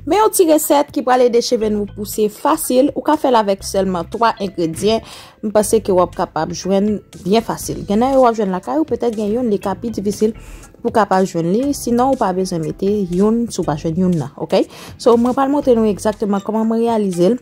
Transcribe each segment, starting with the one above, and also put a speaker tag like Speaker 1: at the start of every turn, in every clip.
Speaker 1: Men yon ti resèt ki pral ede cheve nou pouse fasil, ou ka fèl avèk sèlman 3 engredyen, m panse ke wap kapab jwenn byen fasil. Gen nan yo wap jwenn lakay ou, petèt gen youn li ka pi difisil pou kapab jwenn li, sinon ou pa bezwen mete youn si w pa jwenn youn nan, ok. So mwen pral montre nou egzakteman kòman mwen reyalize l.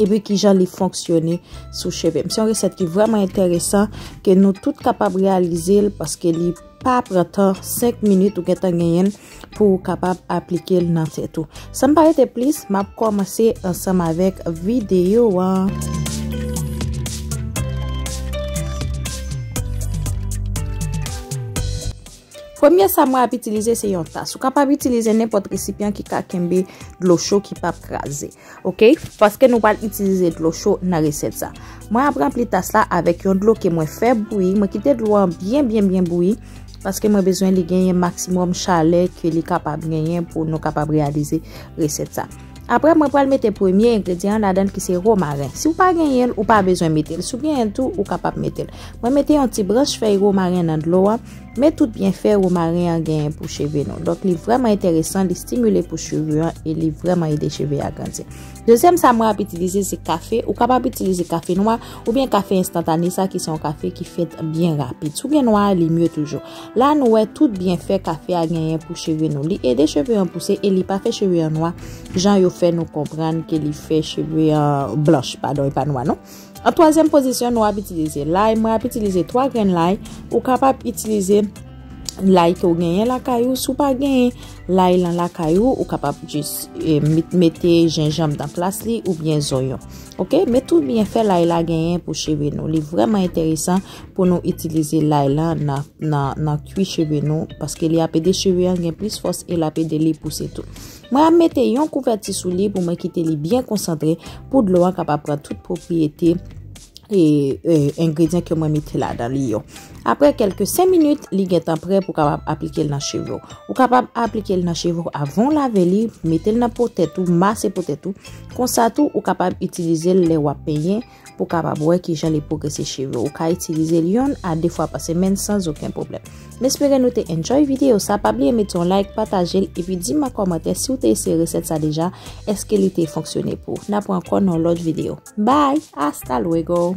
Speaker 1: epi ki jan li fonksyone sou cheve m. Se yon resèt ki vreman enteresan ke nou tout kapab realize l paske li pa pran tan 5 minit ou gen tan genyen pou ou kapab aplike l nan tèt ou. San m pa rete plis, m ap kòmanse ansanm avèk videyo an. Premye sa mwen ap itilize se yon tas. Ou kapab itilize nenpòt resipyan ki ka kenbe dlo cho ki pap kraze. Ok, paske nou pral itilize dlo cho nan resèt sa. Mwen ap ranpli tas la avèk yon dlo ke mwen fè bouyi. Mwen kite dlo an byen byen byen bouyi. Paske mwen bezwen li genyen maksimòm chalè ke li kapab genyen pou nou kapab reyalize resèt sa. Aprè mwen pral mete premye engredyan ladan ki se romaren. Si ou pa genyen, ou pa bezwen mete. Si ou genyen tou, ou kapab mete. Mwen mete yon ti branch fèy romaren nan dlo an. Men tout byenfè womaren an genyen pou cheve nou. Donk li vrèman enteresan, li stimile pou cheve an e li vrèman ede cheve a grandi. Dezyèm sa mwen ap itilize se kafe. Ou kapab itilize kafe nwa oubyen kafe enstantane sa ki se yon kafe ki fèt byen rapid. Si w gen nwa a li mye toujou. La nou wè tout byenfè kafe a genyen pou cheve nou. Li ede cheve an pouse e li pa fè cheve an nwa jan yo fè nou konprann ke li fè cheve an blanch. Padon e pa nwa non. An twazyèm pozisyon nou ap itilize lay, mwen ap itilize 3 grenn lay, ou kapab itilize lay ke ou genyen lakay ou, si ou pa genyen lay lan lakay ou, ou kapab jis mete jenjanm nan plas li oubyen zonyon. Ok, met tout byen fè lay la genyen pou cheve nou, li vreman enteresan pou nou itilize lay la nan kwi cheve nou, paske li ap ede cheve an gen plis fòs e l ap ede li pouse tou. Mwen ap mete yon kouvèti sou li pou mwen kite li byen konsantre pou dlo an kapab pran tout pwopriyete engredyan ke mwen mete ladan li yo. Apre kelke 5 minit, li gen tan pre pou kapab aplike l nan cheve w. Ou kapab aplike l nan cheve w avan w lave li, mete l nan po tèt ou, mase po tèt ou. Konsa tou, ou kapab itilize l lè w ap penyen. pou kapab wè kijan li pwogrese cheve ou ka itilize l yonn a 2 fwa pa semèn sans oken pwoblèm m espere nou te enjoy videyo sa pa bliye mete yon like pataje l epi di m an kòmantè si w te eseye resèt sa deja èske li te fonksyone pou w n ap wè ankò nan yon lòt videyo bye hasta luego.